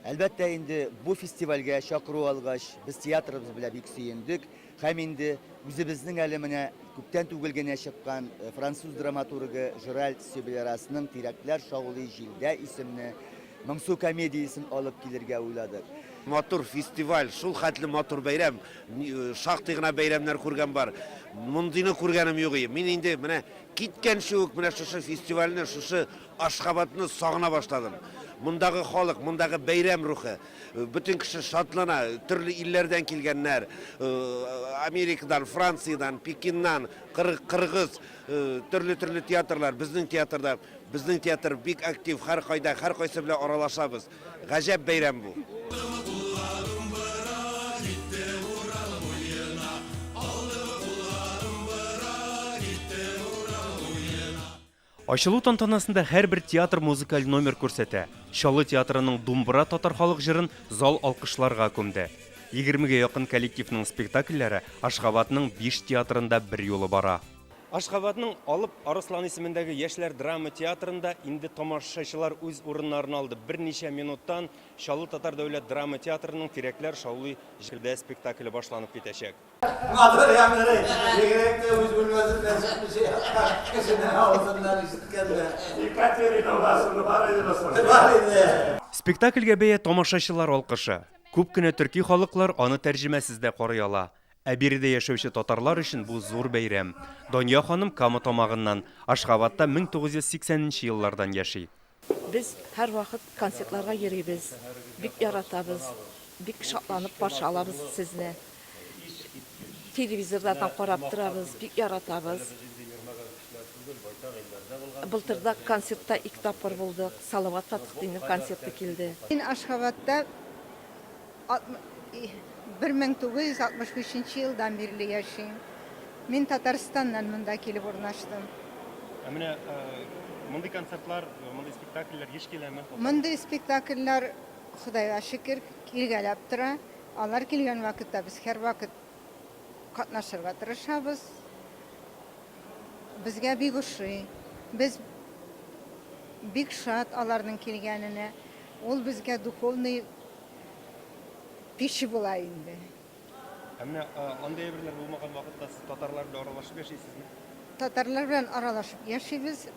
Әлбәттә инде, бу фестивальгә чакыру алгач, без театрыбыз белә бик сөендек һәм инде үзебезнең әле менә күптән түгел генә чыккан француз драматургы Жеральд Сёбелерасның Тирәкләр шаулый җилдә исемне Моңсу комедиясен алып килергә уйладык. Матур фестиваль, шул хәтле матур бәйрәм. Шактый гына бәйрәмнәр күргән бар. Мондыйны күргәнем юк и. Мин инде менә киткәнче үк менә шушы фестивальне, шушы Ашхабадны сагына башладым. Мондагы халык, мондагы бәйрәм рухы. Бөтен кеше шатлана, төрле илләрдән килгәннәр. Америкадан, Франциядән, Пекиннан, Кыр- Кыргыз, төрле-төрле театрлар, безнең театрда. Безнең театр бик актив, һәркайда, һәркайсы белән аралашабыз. Гаҗәп бәйрәм бу. Ачылу тантанасында һәрбер театр музыкаль номер күрсәтә. Чаллы театрының Думбра татар халык җырын зал алкышларга күмде. Егермегә якын коллективның спектакльләре Ашгабадның биш театрында берьюлы бара. Ашгабадның Алып Арыслан исемендәге яшьләр драма театрында инде тамашачылар үз урыннарын алды. Берничә минуттан Чаллы татар дәүләт драма театрының Тирәкләр шаулый җырдә спектакле башланып китәчәк. Матур яңгырый. Бигрәк тә үз бүлмәсеннән чыкмыйча яткан кешенең авызыннан ишеткәндә. Екатерина, у вас уже бар иде бысың? Бар иде. Спектакльгә бәя тамашачылар алкышы. Күп кенә төрки халыклар аны тәрҗемәсез дә карый ала. Ә биредә яшәүче татарлар өчен бу зур бәйрәм. Дания ханым Кама Тамагыннан, Ашгабадта 1980 нче еллардан яши. Без һәрвакыт концертларга йөрибез, бик яратабыз, бик шатланып каршы алабыз сезне. Телевизорлардан карап торабыз, бик яратабыз. Былтыр да концертта ике тапкыр булдык, Салават Фәтхетдиннең концерты килде. Мин Ашхабадта 1965 нче елдан бирле яшим. Мин Татарстаннан монда килеп урнаштым. Ә менә мондый концертлар, мондый спектакльләр еш киләме? Мондый спектакльләр, Ходайга шөкер, килгәләп тора. Алар килгән вакытта без һәрвакыт катнашырга тырышабыз. Безгә бик ошый. Без бик шат аларның килгәненә. Ул безгә духовный кеше була инде. Ә менә андый әйберләр булмаган вакытта сез татарлар белән аралашып яшисезме? Татарлар белән аралашып яшибез.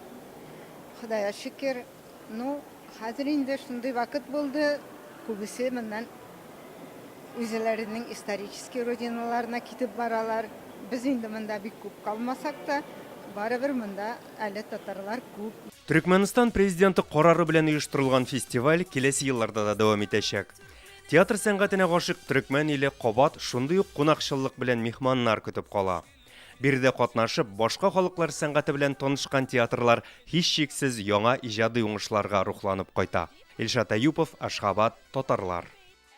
Худая шөкер. Ну, хәзер инде шундый вакыт булды, күбесе моннан үзләренең исторический родиналарына китеп баралар. Без инде монда бик күп калмасак та, барыбер монда Әле татарлар күп. Төрекмәнстан Президенты карары белән оештырылган фестиваль киләсе елларда да дәвам итәчәк. Театр сәнгатенә гашыйк төрекмән иле кабат шундый ук кунакчыллык белән михманнар көтеп кала. Биредә катнашып, башка халыклар сәнгате белән танышкан театрлар һичшиксез яңа иҗади уңышларга рухланып кайта. Илшат Әюпов, Ашгабад, Татарлар.